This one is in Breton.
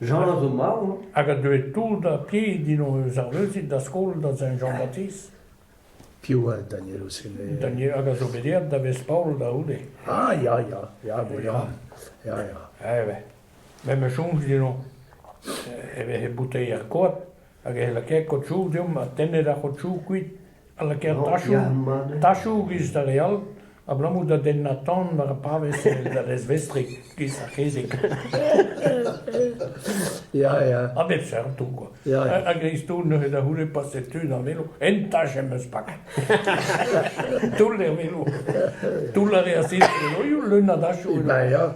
Jean a zo marv hein. Hag a deue tout da ti Dino eus ar Leuzit da skol da Saint-Jean-Baptiste. Piv oa Daniel Ossene? Daniel, hag a zo bet eet da Vest-Paol da c'houde. Ah ya ya, ya, bon ya, ya ya. Eh ben, me ma soñj Dino e vehe bouteier koad hag e lakae kotsoù deomp ha tennet ar c'hotsoù kuit, ha lakaet tachoù, tachoù giz da leal, abalamour da dennañ tan war ar pavez da dezvestriñ giz ar c'hezeg. Ya, ya. A bep seurt tout, quoi. Ya, ya. A gristoù neuze da c'houde paset tu d'an velo. En tach em eus pak. Toull er velo. Toull a reas il velo, leun a dachoù. Ben, ya.